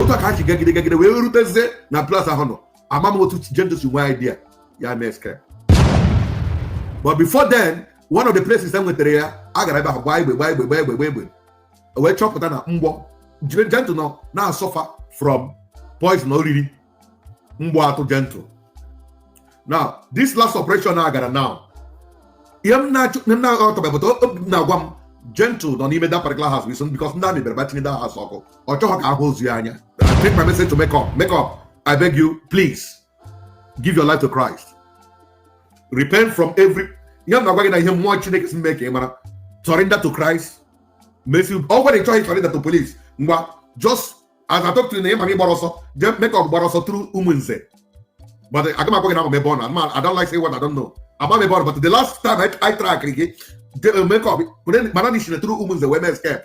otu ka ha ji gagide gagide wee rutezie na place ahụ nọ ama m otu gentle si nwee idea ya mee escape but before then one of the places e nwetara ya a gara ebe ahụ gbaa egbe gbaa egbe gbaa egbe gbaa egbe wee chọpụta na mgbe gentle nọ na-asọfa from poison o riri mgbọ atụọ gentle now this last operation a gara now ihe m na-aghọtabeghị but obi m na-agwa m gentle nọ n'ime that particular house because ndị army bịara ba tinye that house ọkụ ọ chọghị ka a hụ ozu ya anya take my message to make up make up i beg you please give your life to christ repent from every ihe m na-agwa gị na ihe mmụọ chineke si mee ka ị mara surrender to christ mesi ọ gwara ị chọghị surrender to police ngwa just as I talk to you na ị ma gị gbara ọsọ jee make up gbara ọsọ through umunze but aga m agwa gị na ama m ebe ọ nọ ama I don't like say what I don't know ama m ebe ọ nọ but the last time I, I track gị make up mana na i si na through umunze wee mee escape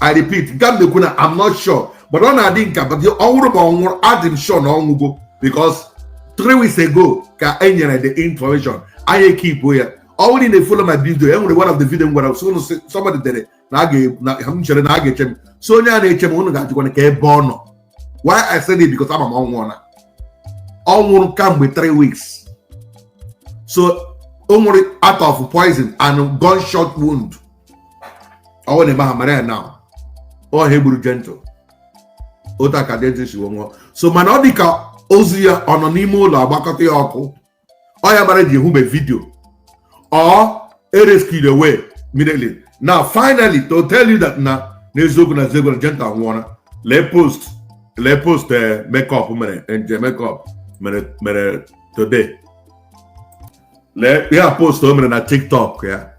I repeat, aga m ekwu na, I'm not sure. But ọ na-adị m ka ọ nwụrụ but adị m sure na ọ nwụgo because three weeks ago, ka e nyere the information. Anyị e keepụ ya ọ wụrụ na ị na-follow my video. E nwere one of the video where I was going to somebody did it. na I'm sure na get him. So nya na eche m unu ga-ajikwa na ka ebe ọ nọ. Why I said it because ama m ọ nwụọ. Ọ nwụrụ kamgbe three weeks. So ọ nwụrụ out of poison and gunshot wound. ọ wụ na ebe ha mara ya na ọ ha egburu gentle otu a ka gentle si nwụọ so mana ọ dị ka ozu ya ọ nọ n'ime ụlọ agbakọta ya ọkụ ọ ya mere e ji ahụbe video or e rescue away immediately now finally to tell you that na n'eziokwu na general gentle anwụọla lee post lee post eh, makeup mere eh, nke makeup mere mere today lee ya post o mere na tiktok ya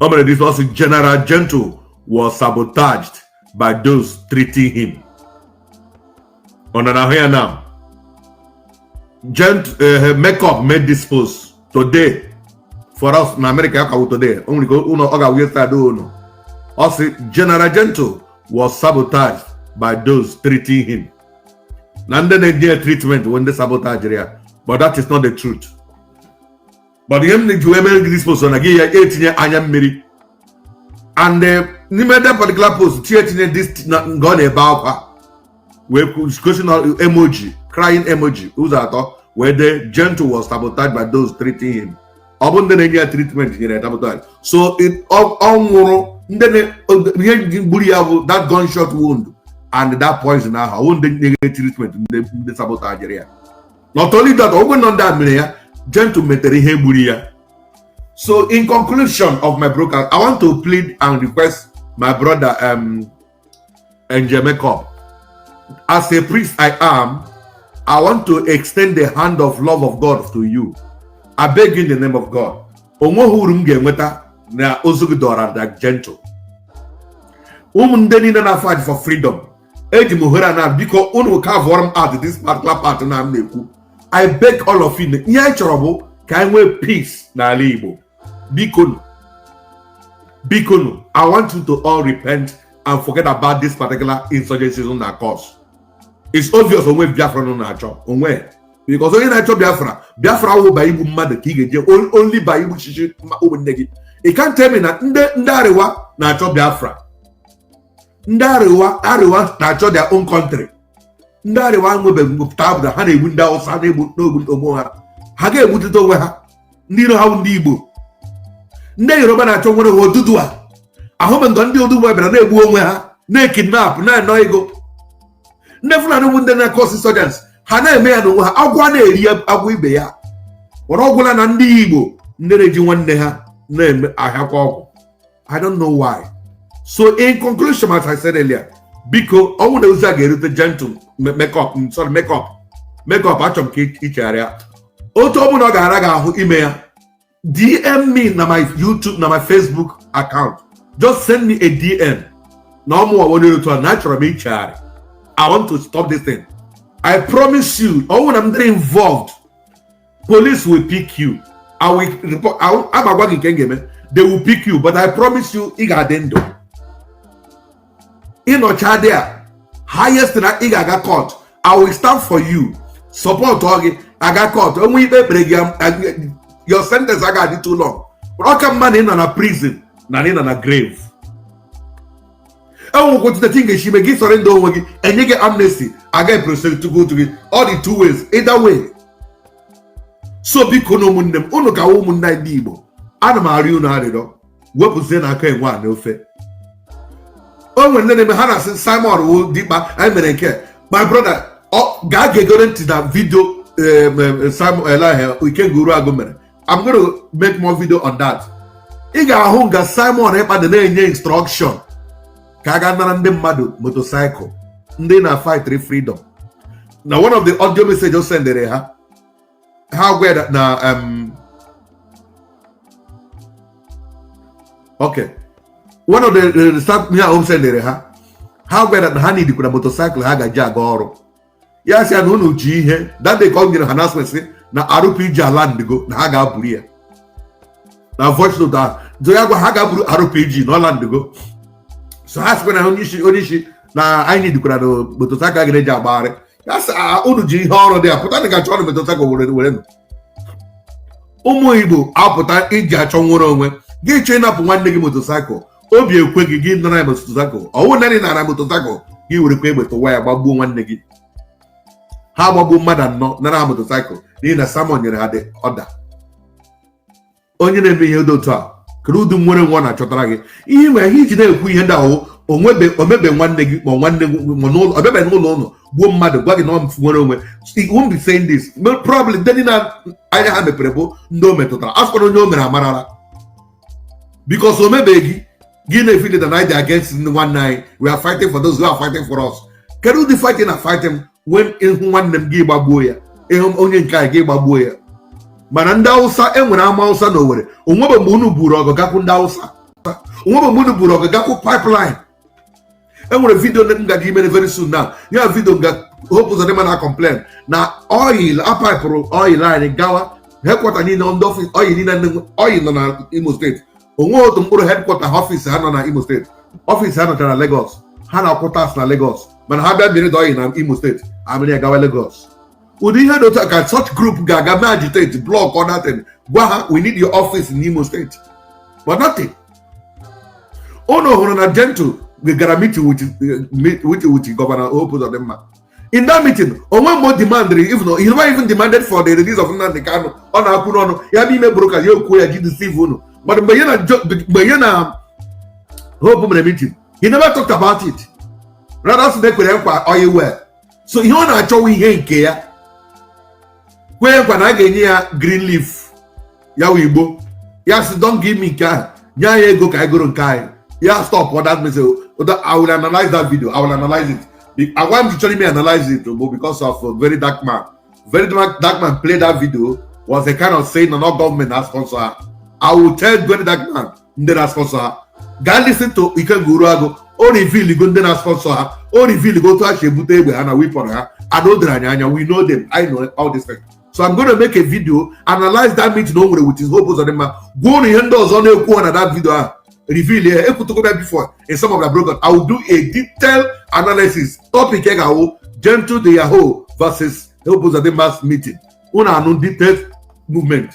o mere this ọsị general gentle was sabotaged by those treating him unu na-ahụ ya now gent uh, makeup made this post today for us na america ya ka wụ today o nwere ike n'ụlọ ọ ga-awụ yesterday do ụlọ ọ sị general gentle was sabotaged by those treating him na ndị na-enye treatment wụ ndị sabotage ya but that is not the truth mana ihe m na-eji wee mere gị this post na gị ya etinye anya mmiri and eh, n'ime that particular post chi etinye this na nke ọ na-ebe akwa wee kwu- gosi na emoji crying emoji ụzọ atọ wee dee gentle was sabotaged by those treating him ọ bụ ndị na-enye ya treatment nyere ya sabotage so it- ọ ọ nwụrụ ndị na- o- ihe ji gburu ya bụ that gunshot wound and that poison ahụ ọ bụ ndị na-enye treatment ndị ndị sabotage ya not only that ogwe nọ ndị a mere ya gentle metere ihe gburu ya so in conclusion of my broadcast i want to plead and request my brother Angel Makeup as a priest i am i want to extend the hand of love of god to you i beg you in the name of god o nweghị uru m ga-enweta na ozu gị dọrọ ka gentle ụmụ ndị niile na-afight for freedom eji m ohere a na biko unu kavụọrọ m out this particular part na m na-ekwu i beg all of you ihe anyị chọrọ bụ ka anyị nwee peace n'ala igbo bikonu bikonu i want you to all repent and forget about this particular insurgency unu na-acause it's obvious o nwee biafra unu na-achọ o nwee because onye na-achọ biafra biafra wụ ba igbu mmadụ ka ị ga-eje only ba igbu chichi ụmụnne gị ị can't tell me na ndị ndị arewa na-achọ biafra ndị arewa arewa na-achọ their own country ndị arewa nwebeghị ngụpụta abụda ha na-egbu ndị awụsa na-egbu na-egbu onwe ha ha ga-egbutite onwe ha ndị iro ha ndị igbo ndị yoruba na-achọ nwere ha oduduwa ahụbe nga ndị oduduwa bịara na-egbu onwe ha na-ekidnap na-ana ego ndị fulani bụ ndị na-acause insurgence ha na-eme ya n'onwe ha agwọ na-eri agwọ ibe ya were ọ gwụla na ndị igbo ndị na-eji nwanne ha na-eme ahịakwa ọgwụ I don't know why. So in conclusion, as I said earlier, biko ọ wụ na ozi a ga-erute gentle makeup mm, sorry makeup makeup achọ m ka i chegharịa otu ọ bụla ọ ga-ara gị ahụ ime ya DM me na my YouTube na my Facebook account just send me a DM na ọ mụwa bụ onye otu a na achọrọ m ichegharị I want to stop this thing I promise you ọ wụ na m dịrị involved police will pick you i will report aga m agwa gị nke m ga-eme they will pick you but i promise you ị ga-adị ndụ ị nọcha dị a highest na ị ga-aga court i will stand for you supportuo gị gaa court o nwe ikpe e kpere gị your sentence aga adị too long ọ ka mma na ị nọ na prison na ị nọ na grave e nwekwa otu that ị ga-esi ime ị surrender onwe gị e nye gị amnesty aga eprosecute gị ọ dị two ways either way so bikonu ụmụnne m ụnụ ka ụmụnne anyị ndị igbo ana m arịọ unu arịrịọ wepụzienụ aka enwe a n'ofe o nwere ndị na-eme ha na-asị simon ekpa anyị mere nke my brother ọ gaa gegere ntị na vidio simon elah ikenga uruagụ mere I'm going to make more video on that ị ga-ahụ nga Simon Ekpa dị na-enye instruction ka a gaa nara ndị mmadụ motorcycle ndị na-afight freedom na one of the audio message o sendere ha ha gwa ya na um, okay one of the, the, the staff ha o sendere ha ha gwara na ha needikwara motorcycle ha ga-eji aga ọrụ ya sị ya na unu ji ihe dade ka ọ nyere ha na-asị sị na rpg alandigo na ha gaa buru ya na voice note ahụ nso ya gwa ha gaa buru rpg na ọ landigo so ha sịkwa na onye isi onye isi na anyị dikwara na motosaịkụl ga-eji agbagharị ya sị "Ah, unu ji ihe ọrụ dị ya pụta na ga-achọ ọrụ motosaịkụl were were nụ ụmụ igbo apụta iji achọ nnwere onwe gị chọọ ịnapụ nwanne gị motosaịkụl obi ekwe gị gị nara ya motosaịkụl ọ wụ nanị nara motosaịkụl gị were kwa egbe tụwa ya gbagbuo nwanne gị ha gbagbuo mmadụ anọ nara ha motosaịkụl n'ihi na Simon nyere ha the order onye na-eme ihe dị otu a kedu ụdị nnwere onwe na-achọtara gị ihe nwere ihe iji na-ekwu ihe ndị ahụ o nwebe o mebe nwanne gị ma nwanne gị ma n'ụlọ ọ bịabe n'ụlọ ụlọ gbuo mmadụ gwa gị na ọ nnwere onwe It won't be saying this probably ndị niile anya ha mepere bụ ndị o metụtara asụkwara onye o mere amarala because o mebeghị gị na-efi data na-adị against ndị nwanne anyị we are fighting for those who are fighting for us kedu ụdị fight ị na-fight when ị hụ nwanne m gị gbagbuo ya ị hụ onye nke anyị gị gbagbuo ya mana ndị awụsa e nwere ama awụsa na Owere o nwebe mgbe unu buru ọgụ gakwu ndị awụsa o nwebe mgbe unu buru ọgụ gakwu pipeline e nwere vidio ndị m gaga imere very soon na ya vidio nga Hope Uzodinma na-complain na oil a paịpụrụ oil anyị gawa headquarter niile ndị ọfịs oil niile ndị nwe oil nọ na imo steeti o nwe otu mkpụrụ headquarter ha ọfịs ha nọ na imo steeti ọfịs ha nọchara na Lagos ha na-akwụ tax na Lagos mana ha bịa mịrị oil na imo steeti a mịrị ya gawa Lagos ụdị ihe dị otu a ka such group ga-aga mee agitate block or nothing gwa ha we need your office in imo steeti but nothing unu hụrụ na gentle gara meeting with with with governor Hope Uzodinma in that meeting o nwe mgbe o demandịrị even he never even demanded for the release of Nnamdi Kanu ọ na-ekwu n'ọnụ ya bụ ime broadcast ya o kwuo ya ji deceive unu mana mgbe ya na mgbe ya na Hope mere meeting he never talked about it rather sị na e kwere nkwa oil well so ihe ọ na-achọwa ihe nke ya kwee nkwa na a ga-enye ya green leaf ya wụ igbo ya sị don't give me nke ahụ nye anyị ego ka anyị goro nke anyị ya stopụ that message I will analyze that video I will analyze it agwa m ji chọrọ ime analyze it bụ because of a very dark man very dark, dark man play that video was a kind of saying na ọ government na-sponsor ha I will tell very dark man ndị na-aspọnsọ ha gaa listen to Ikenga Uruagụ o riviligo ndị na-aspọnsọ ha o riviligo otu ha si ebute egbe ha na wipọn ha and o doro anyị anya we know them I know all these things so I'm going to make a video analyze that meeting o nwere with his Hope Uzodinma gwa ụnụ ihe ndị ọzọ na-ekwu ha na that video ahụ reveal ya ekwutugo ya before in some of the broadcast I will do a detailed analysis topic ya ga-awụ Gentle de Yahoo versus Hope Uzodinma meeting ụnụ anụ detailed movement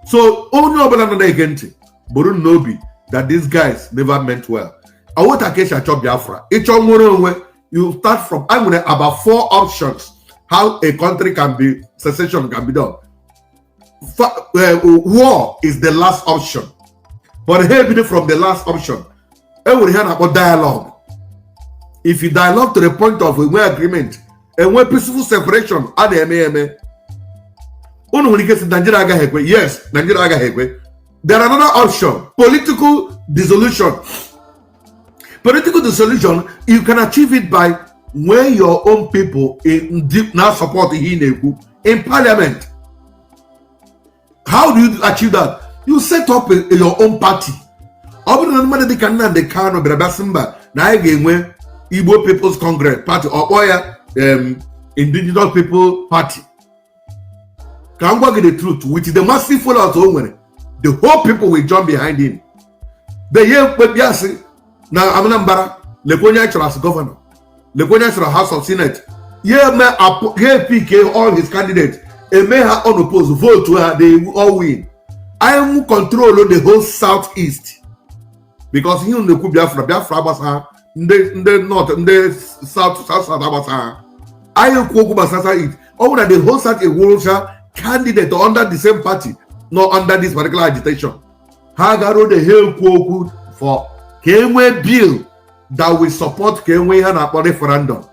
so onye ọbụla nọ na-ege ntị buru n'obi that these guys never meant well awota ka esi achọ biafra ịchọ nwere onwe you start from e nwere about four options how a country can be secession can be done uh, war is the last option but ha ebido from the last option enwere ihe a na-akpọ dialogue if you dialogue to the point of enwe agreement enwe peaceful separation a na-eme eme unu nwere ike sị Nigeria agaghị ekwe yes Nigeria agaghị ekwe there are another option political dissolution political dissolution you can achieve it by when your own people indeed na-support ihe ị na-ekwu in parliament how do you achieve that you set up a, a your own party ọ bụrụ na mmadụ dịka Nnamdi Kanu bịara bịa sị mba na anyị ga-enwe Igbo People's Congress party ọ kpọọ ya um, Indigenous People Party ka m gwa gị the truth with the massive followers o nwere the whole people will jump behind him the year mkpebi asị na Anambra lekwa onye chọrọ as governor lekwa onye chọrọ House of Senate ya eme ya epike all his candidate eme ha unopposed votu ha they all win anyị nwu control the whole south east because ihe a na-ekwu Biafra Biafra gbasa ndị ndị north ndị south south south agbasa ha anyị ekwu okwu gbasara east ọ bụrụ na the whole south ewurocha candidate under the same party nọ under this particular agitation ha gara ode ha ekwu okwu for ka e nwee bill that will support ka e nwee ihe a na-akpọ referendum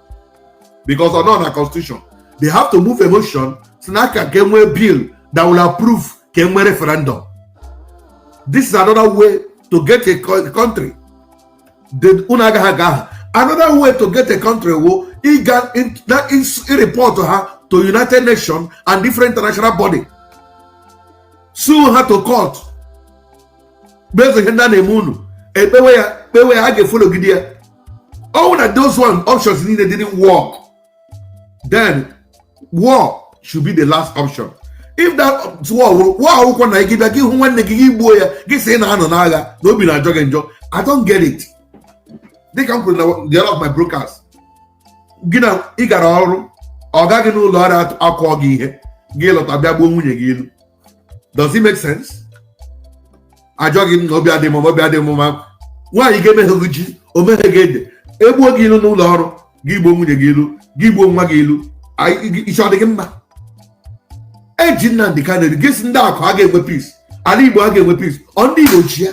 because ọ nọ na constitution they have to move a motion si n'aka ka e nwee bill that will approve ka e nwee referendum this is another way to get a country unu agaghị aga agha another way to get a country wụ ịga na report ha to united nations and different international body sue ha to court based ihe ndị a na-eme unu ekpewe ya kpewe ya a ga-efologide ya ọ wụrụ na those one options niile didn't work then war should be the last option if that war wụrụ war akwụkwọ na gị bịa gị hụ nwanne gị gị gbuo ya gị sị ị na-anọ n'agha na obi na-ajọ gị njọ i don't get it dịka m kwuru na one of my broadcast sị na ị gara ọrụ ọga gị n'ụlọ ọrụ akụọ gị ihe gị lọta bịa gbuo nwunye gị ilu does it make sense a jụọ gị na obi adị m obi adị m mma nwaanyị ga-emeghe gị ji o meghe gị ede egbuo gị ilu n'ụlọ ọrụ gị gbuo nwunye gị ilu gị gbuo nwa gị ilu i che ọ dị gị mma eji Nnamdi Kanu gesi ndị akụ a ga-enwe peace ala Igbo a ga-enwe peace ọ ndị Igbo ji ya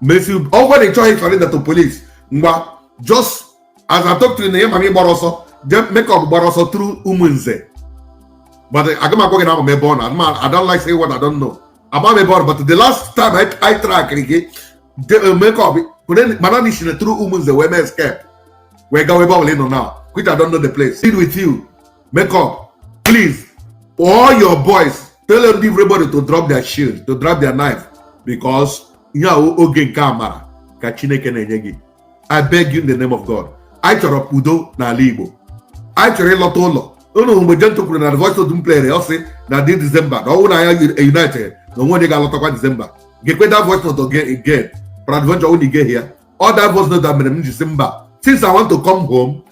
mesi ọ gwara ị chọghị surrender to police ngwa just as I talk to you na ịma gị gbara ọsọ jee makeup gbara ọsọ through Umunze but aga m agwa gị na ama m ebe ọ nọ ama I don't like saying what I don't know ama m ebe ọ nọ but the last time I, I track gị de- makeup kwere- mana na i shiri through Umunze wee mee escape wee gawa ebe ọ bụla ị nọ now which I don't know the place deal with you make up please all your boys tell everybody to drop their shield to drop their knife because ihe a oge nke amara ka chineke na-enye gị i beg you in the name of god anyị chọrọ udo n'ala igbo anyị chọrọ ịlọta ụlọ unu mgbe Gentle kwuru na the voice of the player ọ sị na this disemba na ọnwụ na ya united na o nwe onye ga-alọtakwa disemba geekwe that voice note again peradventure unu egehie ya o that voice note mere m ji sị mba since i want to come home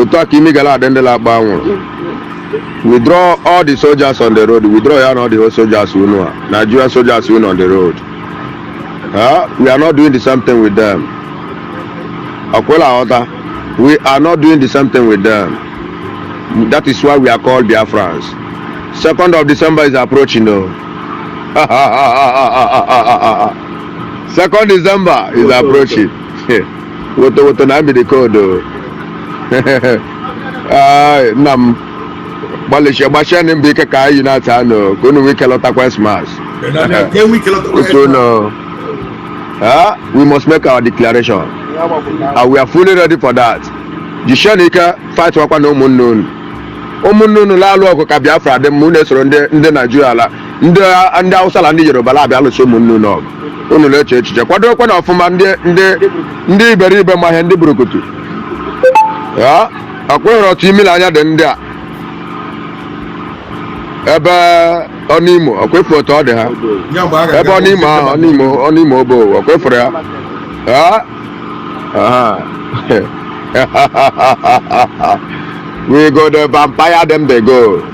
otu a ka imi gara adị ndị na-akpọ anwụrụ withdraw all the soldiers on the road withdraw ya na all the whole soldiers unu a Nigerian soldiers unu on the road ha we are not doing the same thing with them ọkwa ị la-aghọta we are not doing the same thing with them that is why we are called Biafrans second of December is approaching o second December is approaching. woto woto na amịrị koodu Ai, nna m gbalịchie gbasie nụ mbọ ike ka anyị na-ata anụ ka unu nwee ike lọtakwa Christmas otu unu Ah, we must make our declaration and we are fully ready for that jisie nụ ike fight wakwa nụ ụmụnne unu ụmụnne unu la-alụ ọgụ ka Biafra dị mma unu esoro ndị ndị Naijiria la ndị ndị Hausa na ndị Yoruba na-abịa alụso ụmụnne unu ọgụ unu na-eche echiche kwadokwe nụ ọfụma ndị ndị ndị iberibe ma ihe ndị burukutu ya ọkwa ị hụrụ otu imi na anya dị ndị a ebe ọnụimo ọkwa ị fụ otu ọ dị ha Ya mgbe a ga-aga ebe ọnụimo ahụ ọnụimo ọnụimo ebe ọkwa ị fụrụ ya Ya? Aha. we go the vampire dem dey go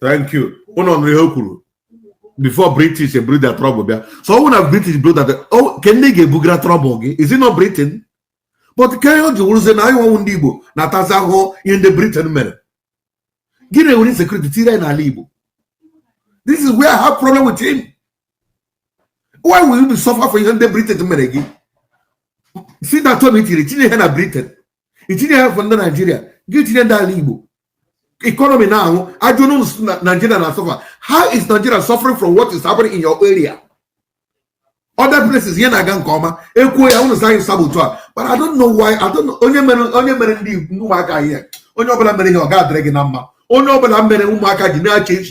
thank you unu nụrụ ihe o kwuru before british eburu their trouble bịa so ọ bụrụ na british buru that oh, kee ndị ga-ebugara trouble gị is it not britain but kee ihe o ji wụrụzie na anyịnwa wụ ndị igbo na-atazi ahụhụ ihe ndị britain mere gị na-ewere insecurity tiere anyị n'ala igbo this is where i have problem with him why will we be suffer for ihe ndị britain mere gị si na tony tiri tinye ihe na britain itinye ihe afụ ndị naijiria gị etinye ndị ala igbo economy na-anwụ a jụọ ụnụ sị na naijiria na-asuffer how is nigeria suffering from what is happening in your area other places ihe na-aga nke ọma e kwuo ya ụnụ sị saboteur but i don't know why i don't know onye mere onye mere ndị ndị ụmụaka ihe onye ọbụla mere ihe ọ ga-adịrị gị na mma onye ọbụla mere ụmụaka ji na-eche